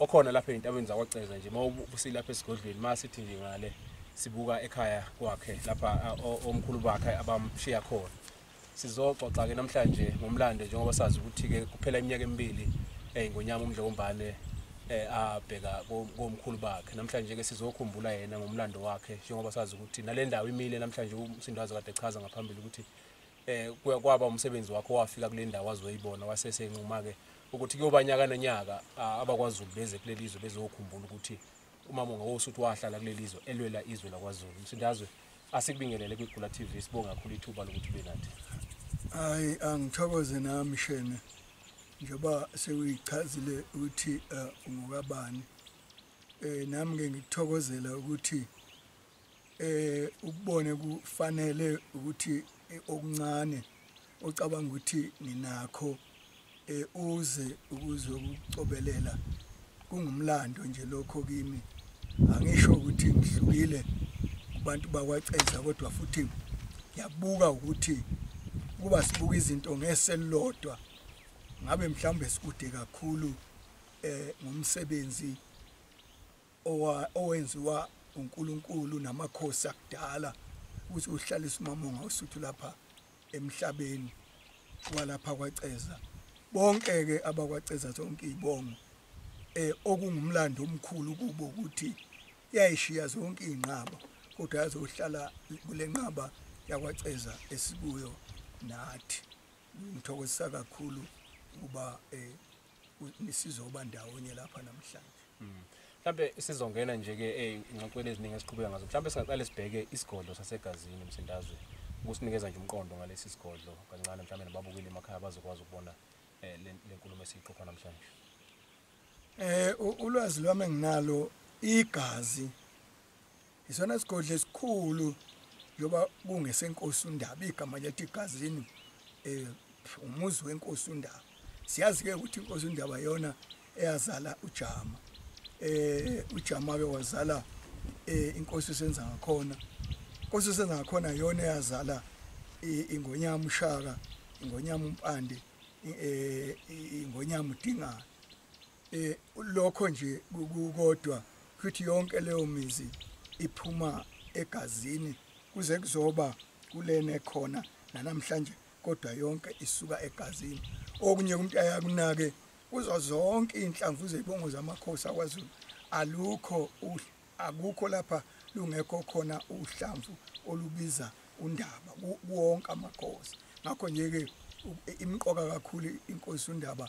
okhona lapha ezintabeni zakwaCeza nje mawubusile lapha esigodlweni masithi nje ngale sibuka ekhaya kwakhe lapha omkhulu bakhe abamshiya khona sizoxoxa ke namhlanje ngomlando njengoba sazi ukuthi ke kuphela iminyaka emibili eh ngonyama umdlokombane eh abheka komkhulu bakhe namhlanje ke sizokhumbula yena ngomlando wakhe njengoba sazi ukuthi nalendawo imile namhlanje umsindazo kade chaza ngaphambili ukuthi eh kwaba umsebenzi wakho wafika kule ndawo azoyibona wasesenquma ke ukuthi kuyoba nyaka nonyaka abakwazulu beze kuleli zwe bezokhumbula ukuthi umama ngawusuthi wahlala kuleli zwe elwela izwe lakwazulu msindazwe asikubingelele kwigula TV sibonga kakhulu ithuba lokuthi ube nathi hayi angithokoze nami shene njengoba sewuyichazile ukuthi eh, ungokabani eh nami ngikuthokozela ukuthi eh ukubone kufanele ukuthi eh, okuncane ocabanga ukuthi ninakho eh uze ukuze ukucobelela kungumlando nje lokho kimi angisho ukuthi ngihlukile kubantu bakwaceza kodwa futhi ngiyabuka ukuthi kuba sibuka izinto ngeselodwa ngabe mhlawumbe sikude kakhulu eh ngomsebenzi owenziwa uNkulunkulu namakhosi akudala ukuthi uhlalisa umamonga usuthu lapha emhlabeni walapha kwaCeza bonke ke abakwaCeza zonke izibongo eh okungumlando omkhulu kubo ukuthi yayishiya zonke izinqaba kodwa yazohlala kulenqaba yakwaCeza esikuyo nathi ngithokozisa kakhulu ukuba eh sizoba ndawonye lapha namhlanje mm. mhlambe sizongena nje ke eh, ingxoxweni eziningi esiqhubeka ngazo mhlambe singaqale sibheke isigodlo sasegazini emsindazwe ukusinikeza nje umqondo ngalesi sigodlo kancane mhlambe nababukeli emakhaya bazokwazi ukubona eh, le nkulumo esiyiqopha namhlanje eh ulwazi lwami enginalo igazi Isona sigodlo esikhulu njengoba kungesenkosi uNdaba igama lethu igazini eh umuzi wenkosi uNdaba. Siyazi ke ukuthi inkosi uNdaba yona eyazala uJama. Eh uJama ke wazala eh inkosi senza ngakhona. Inkosi senza ngakhona yona eyazala ingonyama ushaka, ingonyama umpande, eh ingonyama udingana. eh lokho nje kukodwa futhi yonke leyo mizi iphuma egazini kuze kuzoba kulena ekhona nanamhlanje kodwa yonke isuka egazini okunye umuntu ayakunake kuzo zonke inhlamvu zebongo zamakhosi akwaZulu alukho akukho lapha lungekho khona uhlamvu olubiza undaba kuwonke amakhosi ngakho nje ke imqoka kakhulu inkosi undaba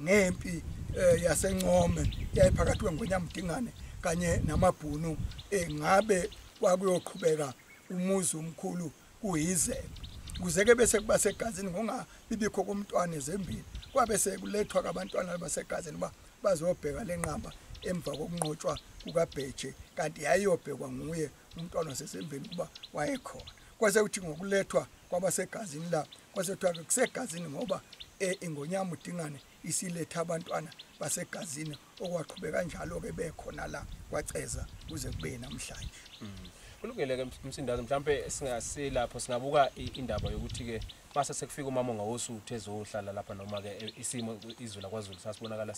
ngempi eh, yasencome yayiphakathi kwengwenyamdingane kanye namabhunu eh, ngabe kwakuyoqhubeka umuzi omkhulu kuyize kuze ke bese kuba segazini ngongabibikho kumntwana ezembili kwabe sekulethwa kabantwana basegazini ba bazobheka lenqamba emva kokunqotshwa kukabheje kanti yayiyobhekwa nguye umntwana wasesembeni kuba wayekhona kwase kuthi ngokulethwa kwabasegazini la kwase kuthiwa-ke kusegazini ngoba e, ingonyama udingane isiletha abantwana basegazini okwaqhubeka njalo-ke bekhona la kwaceza kuze kube namhlanje mm. kulungile-ke msindazi mhlawumpe singasilapho singabuka indaba yokuthi-ke mase sekufika umama ongawosuthu ezohlala lapha noma-ke e, isimo izwe lakwazulu sasibonakala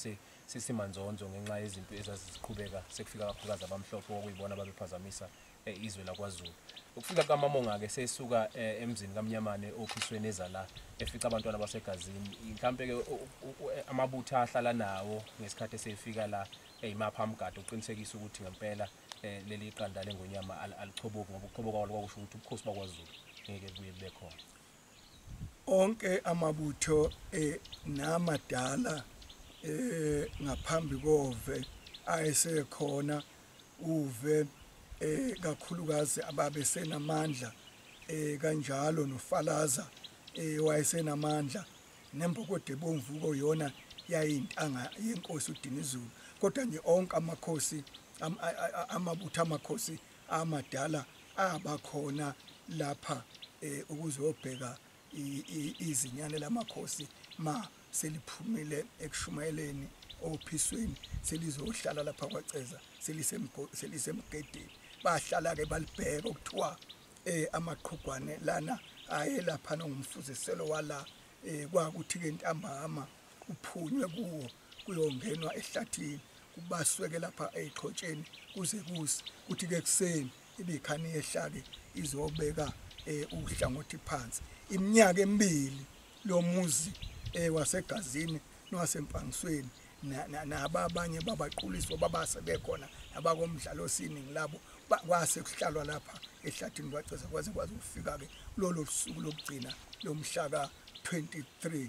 sisimanzonzo ngenxa yezimpi ezaziziqhubeka sekufika kakhulukazi abamhlophe okuyibona babephazamisa eh, izwe lakwaZulu ukufika kukaMamonga-ke sesuka eh, emzini kaMnyamane ophisweni ezala efica abantwana basegazini mhlawumpe-ke eh, amabutha ahlala nawo ngesikhathi esefika la eyimapha amgade uqinisekisa ukuthi ngempela um leli qanda lengonyama alichoboki ngoba ukuchoboka kwalo kwakusho ukuthi ubukhosi bakwaZulu ngeke buye bube khona onke amabutho eh, namadala eh, ngaphambi kove ayesekhona uve eh, kakhulukazi ababe senamandla eh, kanjalo nofalaza eh, wayesenamandla nembokode ebomvu koyona yayintanga yenkosi uDinizulu kodwa nje onke amakhosi amabutho amakhosi amadala abakhona lapha eh, ukuzobheka izinyane lamakhosi ma seliphumile ekushumayeleni ophisweni selizohlala lapha kwaceza selisemgedeni bahlala ke balibheka ukuthiwa eh amaqhugwane lana ayelapha nongumfuziselo wala eh kwakuthi ke ntambama uphunywe kuwo kuyongenwa ehlathini kubasweke lapha eqhotsheni kuze kusi kuthi ke kuseni ibikhani yehlake izobeka eh, uhlangothi phansi iminyaka emibili lo muzi eh, wasegazini nowasempangisweni naba abanye babaquliswa babase bekhona abakomdlalo sini ngilabo kwase kuhlalwa lapha ehlathini kwaceza kwaze kwaze kufika-ke lolo suku lokugcina lomhlaka 23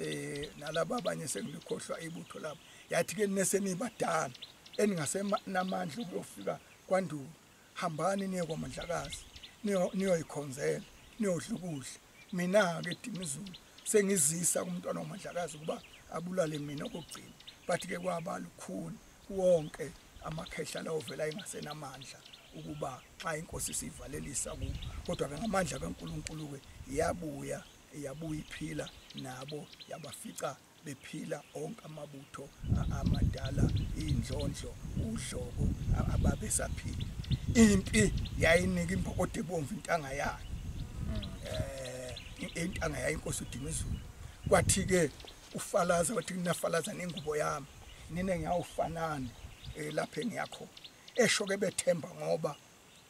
eh nalabo abanye sengikhohlwa ibutho labo yathi ke nesenibadala eningasenamandla ukuyofika kwandulo hambani niye kwamandlakazi niyoyikhonzela niyodlukuhle mina ke Dimizulu sengizisa kumntwana wamandlakazi ukuba abulale mina kokugcina bathi ke kwaba lukhuni wonke amakhehla lawo vela engasenamandla ukuba xa inkosi sivalelisa ku kodwa ke ngamandla kaNkuluNkulu ke yabuya yabuye iphila nabo yabafica bephila onke amabutho amadala indlondlo udlobo ababesaphila impi yayinika impokode ebomvu intanga yayo eh intanga yayo inkosi uDimizulu kwathi ke ufalaza wathi kunafalaza nengubo yami nina ngiyawufanana eh, lapha engiyakhona esho ke bethemba ngoba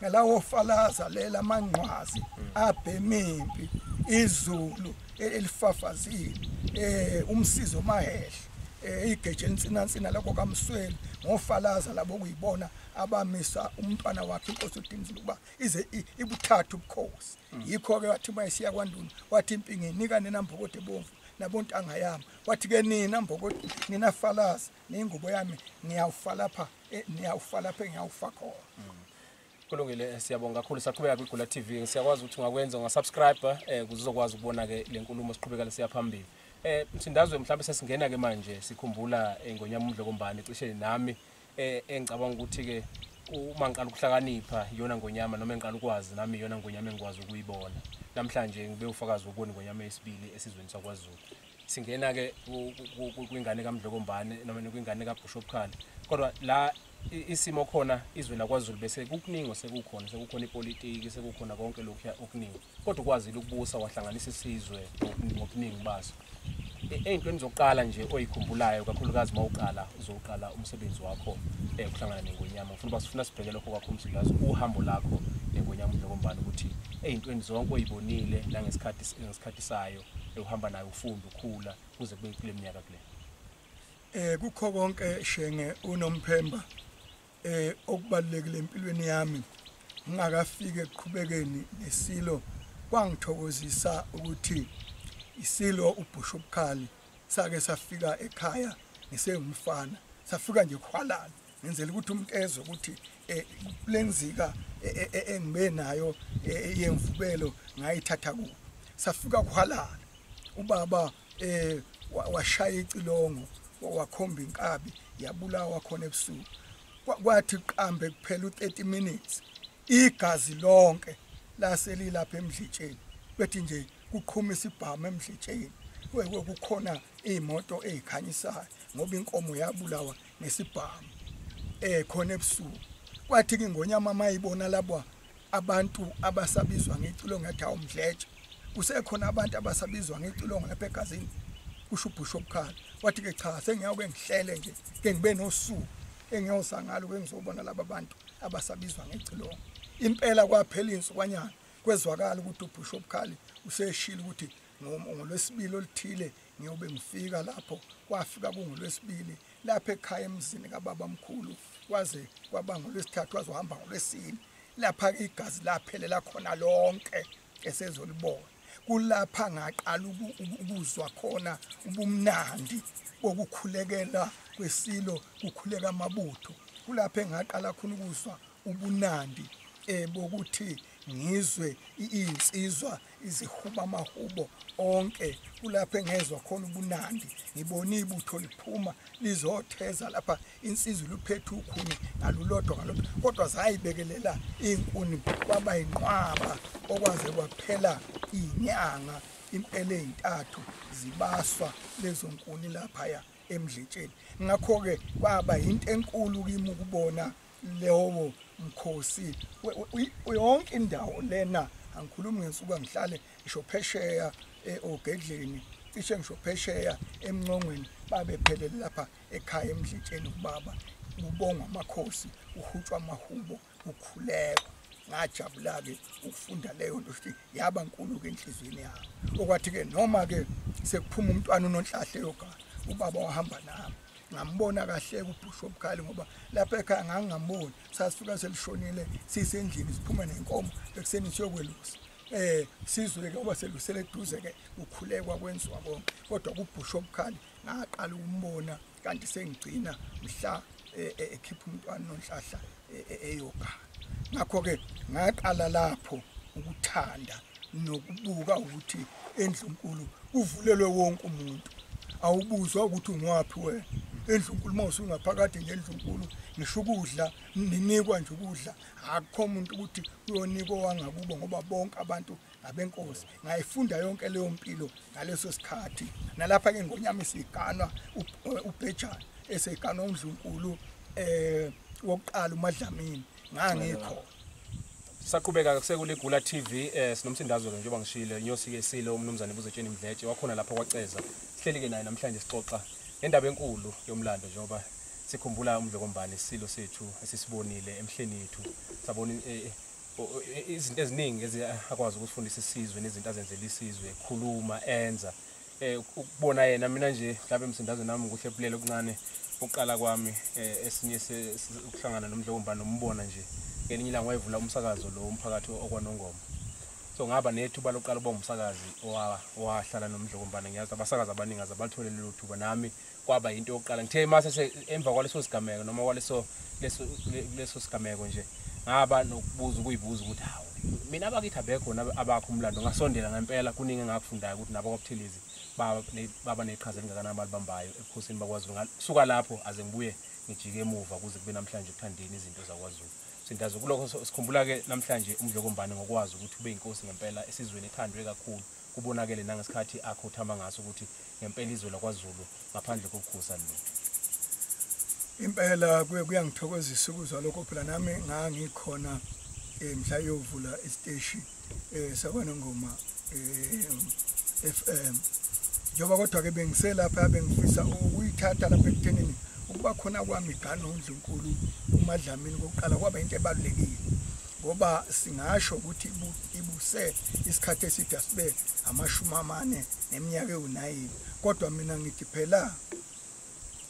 ngalawo falaza lela amanqwazi abhemimpi izulu elifafazile eh umsizo mahehla eh, igeje elintsinansina lakho kamsweli ngofalaza labo kuyibona abamisa umntwana wakhe inkosi udinzile ukuba ize ibuthathu ubukhosi mm. yikho ke wathi uma esiya kwanduna wathi impingi nika nina mbokode bomvu nabontanga yami wathi ke nina mbokode nina falaza nengubo yami ngiyawufa lapha eh, ngiyawufa lapha ngiyawufa khona mm. kulungile eh, siyabonga kakhulu saqhubeka kwigula tv siyakwazi ukuthi ungakwenza ungasubscribe um eh, kuze uzokwazi ukubona-ke le nkulumo siqhubekele siyaphambili um mthindazwe mhlawumbe sesingena-ke manje sikhumbula um ngonyama umdlokombane cishe nami um engicabanga ukuthi-ke uma ngiqala ukuhlakanipha iyona ngonyama noma engiqala ukwazi nami iyona ngonyama engikwazi ukuyibona namhlanje ngibe ufakazi wokubona ingonyama yesibili esizweni sakwazulu singena ke kwingane kaMdlokombane noma kwingane kaBishop Khale kodwa la isimo khona izwe lakwaZulu bese kukuningi sekukhona sekukhona ipolitiki sekukhona konke lokhu okuningi kodwa ukwazile ukubusa wahlanganisa isizwe ngobuningi baso ey'ntweni zokuqala nje oyikhumbulayo kakhulukazi uma uqala uzoqala umsebenzi wakho um kuhlangana nengonyama ngifuna uba sifuna sibheke lokho kwakho umzulazi uhambo lakho nengonyama unokombani ukuthi ey'ntweni zonke oyibonile nangesikhathi ngesikhathi sayo ewuhamba nayo ufunda ukhula kuze kube kule minyaka kule eh kukho konke shenge unomphemba eh okubalekile empilweni yami ngingakafiki ekuqhubekeni nesilo kwangithokozisa ukuthi isilo ubhusha ubukhali sake safika ekhaya ngisengumfana safika nje khwalala ngenzela ukuthi umuntu ezwe ukuthi eh, lenzika eh, eh, eh, engibe nayo eh, yemvubelo ngayithatha ku safika kuhalala ubaba eh wa- washaya icilongo wa- wakhomba inkabi yabulawa khona ebusuku Kwa- kwathi qambe kuphela u30 minutes igazi lonke laselilapha emdlitsheni bethi nje kuqhuma isibhamu emdlitsheni We- we- kukhona imoto ezikhanyisayo ngoba inkomo yabulawa ngesibhamu eh khona ebusuku kwathi kingonyama mayibona labo abantu abasabizwa ngecilongo yathi awumdletshe kusekhona abantu abasabizwa ngecilongo lapha egazini kusho ubhusho obukhala wathi ke cha sengiyawuke ngihlele nje ke ngibe nosuku engiyoza ngalo ke ngizobona laba bantu abasabizwa ngecilongo impela kwaphela insukwanyana kwezwakala ukuthi ubhusho obukhali useshilo ukuthi ngolwesibili oluthile ngiyobe ngifika lapho kwafika kungolwesibili lapha ekhaya emzini kababa mkhulu kwaze kwaba ngolwesithathu waze uhamba ngolwesini lapha igazi laphelela khona lonke esezolibona kulapha ngaqala ukuzwa khona ubumnandi bokukhulekela kwesilo kukhuleka amabutho kulapha engaqala khona ukuzwa ubunandi eh bokuthi ngizwe iyinsizwa izihuba amahubo onke kulapho engezwa khona ubunandi ngibona ibutho liphuma lizotheza lapha insizwa luphethe ukhuni ngalulodwa ngalodwa kodwa zayibekelela iy'nkuni kwaba yinqwaba okwaze kwaphela iy'nyanga impela ey'ntathu zibaswa lezo nkuni laphaya emdletsheni ngakho-ke kwaba yinto enkulu kimi ukubona lewo mkhosi yonke indawo lena angikhulumi ngensuku angihlale ngisho phesheya eh, ogedleni cishe ngisho phesheya emncongweni babephelele lapha ekhaya emdletsheni kubaba kubongwa amakhosi uhutshwa amahubo ukhuleko ngajabula-ke ukufunda leyo nto ukuthi yaba nkulu-ke enhliziyweni yabo okwathi-ke noma-ke sekuphuma umntwana unonhlahle yogala ubaba wahamba nami ngambona kahle kubhusho obukhali ngoba lapha ekhaya ngangingamboni sasifika selishonile sisendlini siphuma nenkomo ekuseni siyokwelusa eh sizwe ke uba selusele eduze ke ukhulekwa kwenziwa konke kodwa kubhusho obukhali ngaqala ukumbona kanti sengigcina mhla eh, eh, ekhipha umntwana nonhlahla e-, e-, eyoga ngakho-ke ngaqala lapho ukuthanda nokubuka ukuthi endlunkulu kuvulelwe wonke umuntu awubuzwa ukuthi ungwaphi wena endlunkulu uma usungaphakathi nje endlunkulu ngisho ukudla ninikwa nje ukudla akukho muntu ukuthi uyonikwa wangakubo ngoba bonke abantu abenkosi ngayifunda yonke leyo mpilo ngaleso sikhathi nalapha ke ngonyama isiganwa ubhejana eseganwa undlunkulu eh wokuqala umadlamini ngangikho saqhubeka kusekule Gula TV eh sinomsindazo ke njengoba ngishilo inyosi ke silo umnumzane ubuzetsheni mdletshe wakhona lapha kwaceza sihleli ke naye namhlanje sixoxa ngendaba enkulu yomlando njengoba sikhumbula umdlokombane isilo sethu esisibonile emhleni yethu sabona eh, eh, izinto eziningi eziyakwazi ukufundisa isizwe nezinto azenzela isizwe khuluma enza eh ukubona yena mina nje mhlawumbe emsindazo nami ukuthi ebulele okuncane uqala kwami eh, esinye ukuhlangana nomdlomba nombona nje ngelinye ilanga wayevula umsakazo lo umphakathi okwanongoma so ngaba nethuba lokuqala uba umsakazi owahlala nomdlokombane ngiyazi abasakazi abaningi aze balithole lelo thuba nami kwaba yinto yokuqala ngithe mase se emva kwaleso sigameko noma kwaleso leso leso sigameko nje ngaba nokubuza ukuyibuza ukuthi hawu mina abakithi abekho nabo abakho umlando ngasondela ngempela kuningi engakufundayo ukuthi nabo kwabuthilizi baba ne- baba neqhaza elingakanani abalibambayo ebukhosini bakwazulu ngasuka lapho aze ngibuye ngijike emuva kuze kube namhlanje kuthandeni izinto zakwazulu sindazo kulokho so- sikhumbula-ke namhlanje umdlokombane ngokwazi ukuthi ube yinkosi ngempela esizweni ethandwe kakhulu Kubonakele nangesikhathi akhothama ngaso ukuthi ngempela izwe lakwaZulu ngaphandle kokukhusa lutho. Impela kuye kuyangithokozisa ukuzwa lokho phela nami ngangikhona eh, mhla yovula isiteshi eh, sakwanongoma eh, FM njengoba kodwa-ke bengiselapha bengifisa ukuyithatha lapha ekuthenini ukuba khona kwami igana undlunkulu umadlamini kokuqala kwaba into ebalulekile ngoba singasho ukuthi ibuse isikhathi eside asibe amashumi amane neminyaka ewunayini kodwa mina ngithi phela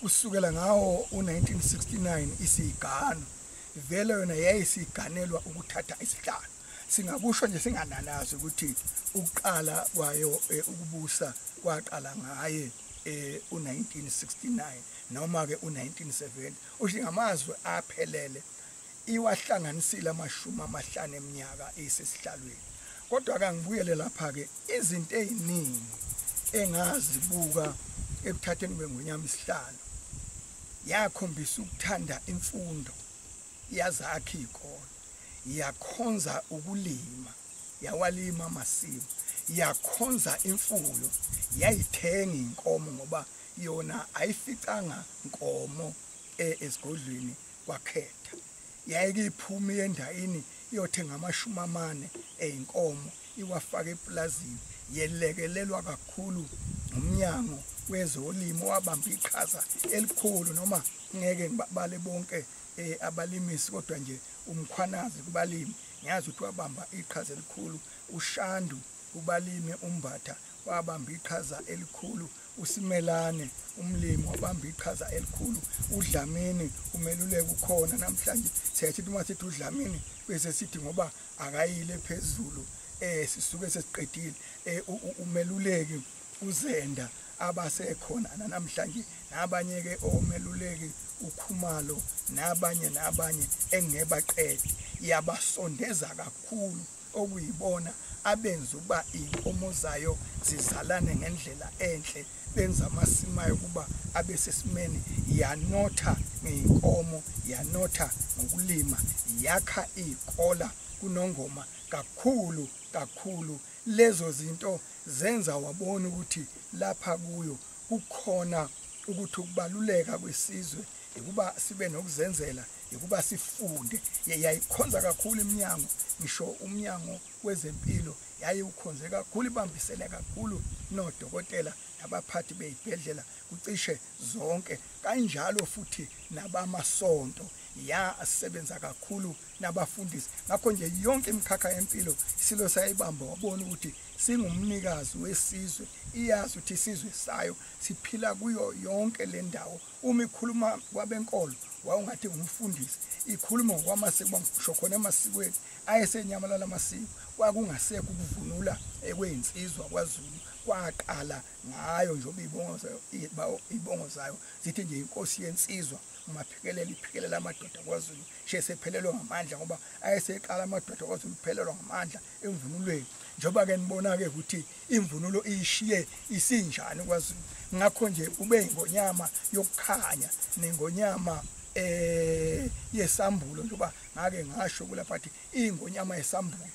kusukela ngawo u-1969 isiyigano vele yona yayisiganelwa ukuthatha isihlalo singakusho nje singananazi ukuthi ukuqala kwayo eh, ukubusa kwaqala ngaye eh u1969 noma ke u1970 usho ngamazwi aphelele iwahlanganisile amashumi amahlanu eminyaka isesihlalweni kodwa kangibuyele lapha-ke izinto ey'ningi engazibuka ekuthatheni kwengunyama isihlalo yakhombisa ukuthanda imfundo yazakha iy'kole yakhonza ukulima yawalima amasimu yakhonza imfuyo yayithenga inkomo ngoba yona ayificanga nkomo e, esigodlweni kwakhetha yayike iphume yendayini iyothenga amashumi amane eyinkomo iwafaka epulazini yelekelelwa kakhulu ngumnyango wezolimo wabamba iqhaza elikhulu noma ngeke ngibabale bonke eh, abalimisi kodwa nje umkhwanazi kubalimi ngiyazi ukuthi wabamba iqhaza elikhulu ushandu kubalimi umbatha wabamba iqhaza elikhulu uSimelane umlimi wabamba iqhaza elikhulu uDlamini umeluleki ukhona namhlanje siyayithi uma sithi uDlamini bese sithi ngoba akayile phezulu eh sisuke sesiqedile eh umeluleki uzenda abasekhona namhlanje nabanye ke omeluleki ukhumalo nabanye nabanye engebaqedi yabasondeza kakhulu okuyibona abenza ukuba iy'nkomo zayo zizalane ngendlela enhle benza amasimu ayo ukuba abe sesimeni yanotha ngey'nkomo yanotha ngokulima yakha iy'kola kunongoma kakhulu kakhulu lezo zinto zenza wabona ukuthi lapha kuyo kukhona ukuthi ukubaluleka kwesizwe ukuba sibe nokuzenzela yokuba sifunde yayikhonza kakhulu iminyango ngisho umnyango wezempilo yayiwukhonze kakhulu ibambisene kakhulu nodokotela nabaphathi beyibhedlela kucishe zonke kanjalo futhi nabamasonto yasebenza kakhulu nabafundisi ngakho nje yonke imikhakha yempilo isilo sayibamba wabona ukuthi singumnikazi wesizwe iyazi ukuthi isizwe sayo siphila kuyo yonke le ndawo uma ikhuluma kwabenkolo wawungathi ngumfundisi ikhuluma ngokwamasiko ngisho khona emasikweni ayesenyamalala amasiko kwakungasekho ukuvunula ekweyinsizwa kwazulu kwaqala ngayo njengoba iy'bongo zayo zithi nje inkosi yensizwa umaphikelela iphikelela amadoda kwazulu shesephelelwe ngamandla ngoba ayeseqala amadoda kwazulu kuphelelwa ngamandla emvunulweni njengoba ke nibona ke ukuthi imvunulo iyishiye isinjani kwaZulu ngakho nje ube ingonyama yokukhanya nengonyama eh yesambulo njengoba ngake ngasho kulapha ukuthi ingonyama yesambulo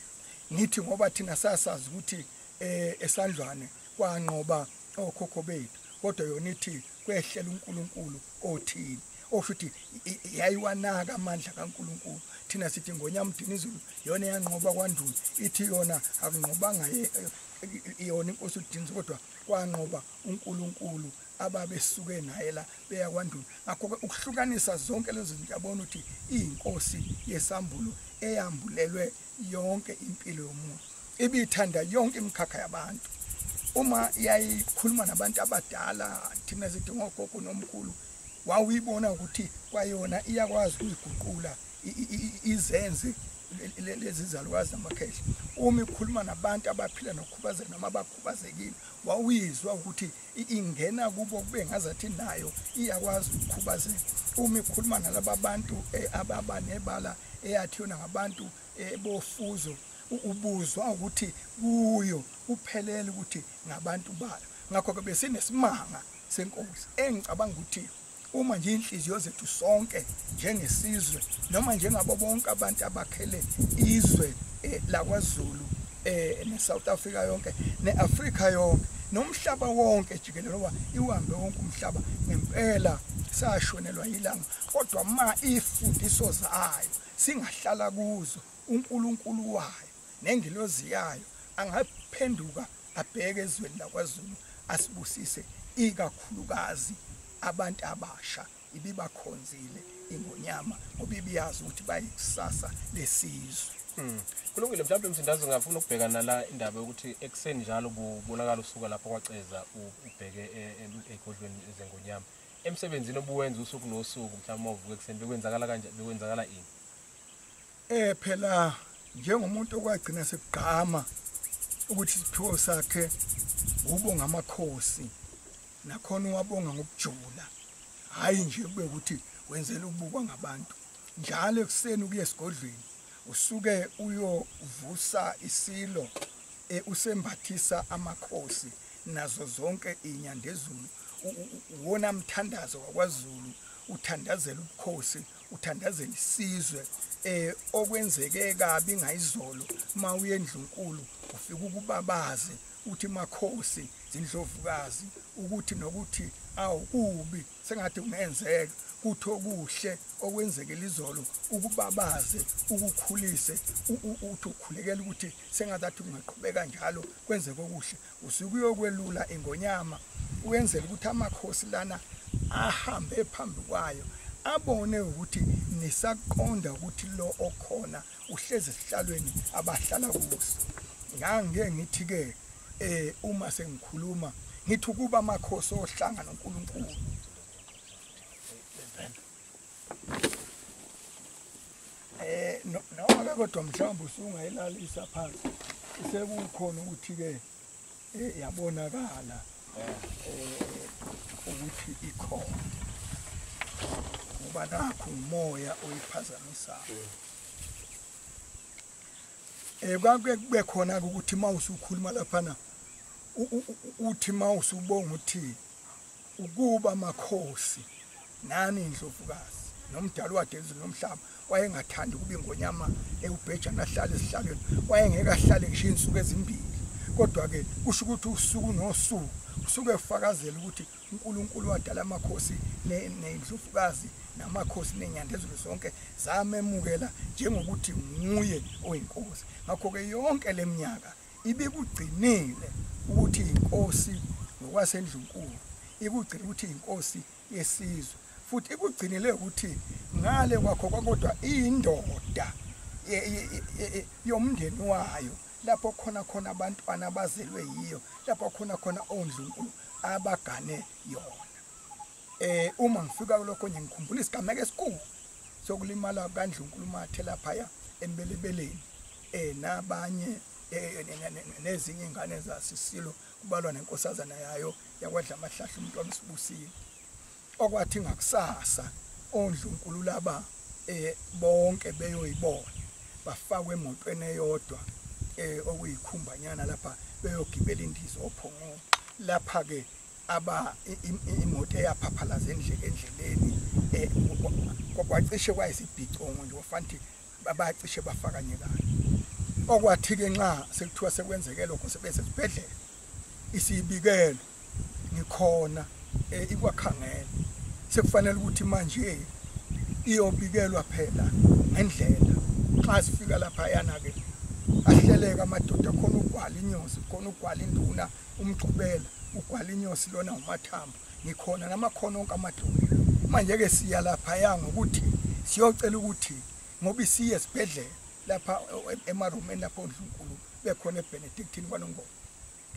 ngithi ngoba thina sasazi ukuthi eh esandlwane kwanqoba okhokho bethu kodwa yona ithi kwehlela uNkulunkulu othini osho ukuthi yayiwanaka amandla kaNkuluNkulu thina sithi ngonyamdini izulu yona yanqoba kwandulo ithi yona akunqobanga yona inkosi udinzi kodwa kwanqoba uNkulunkulu ababesuke naye la beya kwandulo ngakho ke ukuhlukanisa zonke lezo zinto yabona ukuthi iyinkosi yesambulo eyambulelwe yonke impilo yomuntu ibithanda yonke imikhakha yabantu uma yayikhuluma nabantu abadala thina sithi ngogogo nomkhulu wawuyibona ukuthi kwayona iyakwazi ukuyiguqula izenze lezi zalukazi zamakhehla uma ikhuluma nabantu abaphila nokukhubazeka noma abakhubazekile wawuyizwa ukuthi ingena kubo kube ngazathi nayo iyakwazi ukukhubazeka uma ikhuluma nalaba bantu eh, ababa nebala eyathi yona ngabantu eh, bofuzo ubuzwa ukuthi kuyo kuphelele ukuthi ngabantu bayo ngakho-ke besinesimanga senkosi engicabanga ukuthi uma nje inhliziyo zethu sonke njengesizwe noma njengabo bonke abantu abakhele izwe eh, lakwaZulu eh neSouth Africa yonke neAfrica yonke nomhlaba wonke jikelele oba iwambe wonke umhlaba ngempela sashonelwa yilanga kodwa ma ifundiso zayo singahlala kuzo uNkulunkulu wayo nengilozi yayo angaphenduka abheke ezweni lakwaZulu asibusise ikakhulukazi abantu abasha ibibakhonzile ingonyama ngoba ibiyazi ukuthi bayikusasa lesizwe hmm. kulungile mhlawumbe msindazi ngafuna ukubheka nala indaba yokuthi ekuseni njalo kubonakala usuka lapho kwaceza ubheke e- e- egodlweni zengonyama emsebenzini obuwenza usuku nosuku mhlawumbe ovuka ekuseni bekwenzakala kanje bekwenzakala ini Eh phela njengomuntu okwagcina sekugqama ukuthi isiphiwo sakhe ubonga amakhosi nakhona uwabonga ngokujula hayi nje kube ukuthi wenzela ukubukwa ngabantu njalo ekuseni ukuye esigodlweni usuke uyovusa isilo e, usembathisa amakhosi nazo zonke inyandezulu uwona mthandazo wakwaZulu uthandazela ubukhosi uthandazela isizwe eh okwenzeke kabi ngayizolo mawuye endlunkulu ufika ukubabaze uthi makhosi zindlovukazi ukuthi nokuthi awukubi sengathi ungenzeka kuthi okuhle okwenzekela izolo ukubabaze ukukhulise uthi ukhulekela ukuthi sengazathi ungaqhubeka njalo kwenzeke okuhle usuke uyokwelula ingonyama wenzela ukuthi amakhosi lana ahambe phambi kwayo abone ukuthi nisaqonda ukuthi lo okhona uhlezi esihlalweni abahlala kuso ngange ngithi-ke eh uma sengikhuluma ngithi ukuba amakhosi ohlanga noNkulunkulu Eh no no kodwa mhlawumbe usungayilalisa phansi sekukhona ukuthi ke eh, yabonakala eh ukuthi ikhona ngoba nakho umoya oyiphazamisayo eh kwake kube khona ukuthi mawusukhuluma lapha na uthi mawusubonga uthini Ukuba makhosi nani indlovukazi nomdali wadezulu nomhlaba wayengathandi ukuba ingonyama ewubheja nahlale esihlalweni wayengeke ahlale ngisho insuku ezimbili kodwa ke kusho ukuthi usuku nosuku usuke efakazela ukuthi uNkulunkulu wadala amakhosi nendlovukazi namakhosi nenyandezulu zonke zamemukela njengokuthi nguye oyinkosi ngakho ke yonke leminyaka ibikugcinile ukuthi inkosi ngokwasendlunkulu ikugcina ukuthi inkosi yesizwe futhi ikugcinile ukuthi ngale kwakho kwakodwa indoda yomndeni wayo lapho khona khona abantwana abazelwe yiyo lapho khona khona ondlunkulu abagane yona Eh uma ngifika kulokho nje ngikhumbula isigameko esikhulu sokulimala kandlunkulumo athe laphaya embelebeleni eh nabanye eh, nezinye ingane zasisilo kubalwa nenkosazana yayo yakwadla amahlahla umuntu wamsibusile okwathi ngakusasa ondlunkulu laba eh bonke beyoyibona bafakwe emotweni eyodwa eh okuyikhumbanyana lapha beyogibela indiza ophongweni lapha ke aba imoto eyaphaphalaza endlele endleleni eh, kwacishe kwayisibhicongo nje wafanti babacishe bafakanyekana okwathi ke nxa sekuthiwa sekwenzeke lokho sebese sibhedlela isibikelo ngikhona eh, ikwakhangela sekufanele ukuthi manje iyobikelwa phela ngendlela xa sifika lapha yana ke ahleleka amadoda khona ugwala inyosi khona ugwala induna umgqubela ugwala inyosi lona umathambo ngikhona namakhono onke amadumbe manje-ke siya laphaya ngokuthi siyocela ukuthi ngoba isiye esibhedlela lapha e-, emarumeni lapho ondlunkulu bekhona ebenedictini kwanongoma